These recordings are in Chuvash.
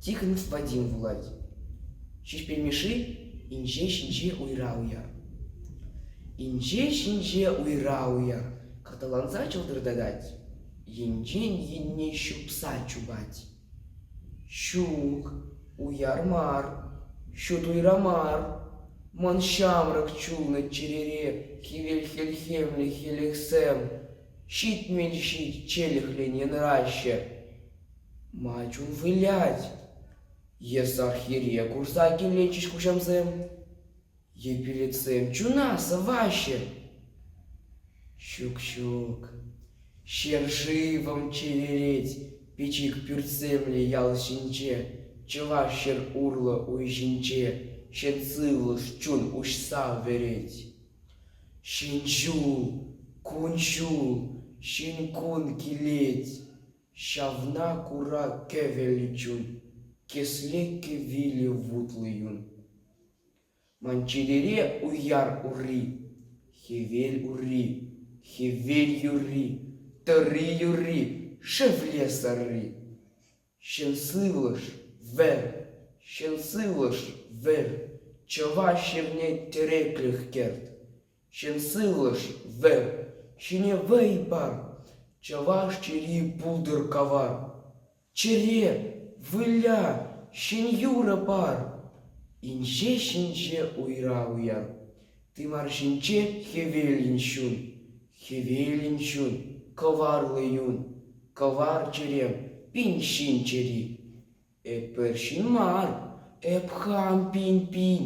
Тихонов Вадим вулать. Ҫеҫпел Мишши инҫе ҫинче уйра уяр. Инҫе ҫинче уйра уяр каталанса чӑлтӑртатать, енчен енне ҫупса чупать. Ҫук, уяр мар, ҫут уйра мар. Ман ҫамрӑк чулнӑ чӗрере хӗвел хӗлхемлӗ хӗлӗхсем ҫитмӗл ҫич челӗхрен янраҫҫӗ. Ма чун вылять? Эс Архиере курса килнӗччӗҫ хуҫамсем. Епилетсем чуна сӑваҫҫӗ. Ҫук-ҫук, ҫӗр-шывӑм чеверет пӗчӗк пӳртсемлӗ ял ҫинче, чӑваш ҫӗр урлӑ уй ҫинче ҫӗн сывлӑш чун уҫса вӗрет. Ҫын ҫул, кун-ҫул, ҫын-кун килет. Ҫавна кура кӗвӗл чун, кӗслеке вилӗ вутлӑ юн. Ман читере уяр урри, хӗвел урри, хӗвел юрри, тӑрри юрри, шевле сарри. Ҫын сывлӑш, вӗр, ҫын сывлӑш, вӗр, чӑваш ҫӗрне тӗреклӗх кӗрт. ҫын сывлӑш вӗр ҫине вӑй пар чӑваш чӗри пултӑр кавар чӗре выля ҫӗн-юрӑ пар инҫе-ҫинҫе уйра уяр тымар ҫинче хӗвелӗн ҫун хӗвелӗн ҫун кӑварлӑ юн кӑвар чӗрем пин ҫын чӗри Эпир ҫын мар, эп хам пин-пин,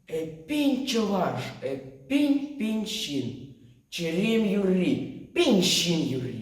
эппин чӑваш, эппин пин ҫын, чӗрем юрри, пин ҫын юрри.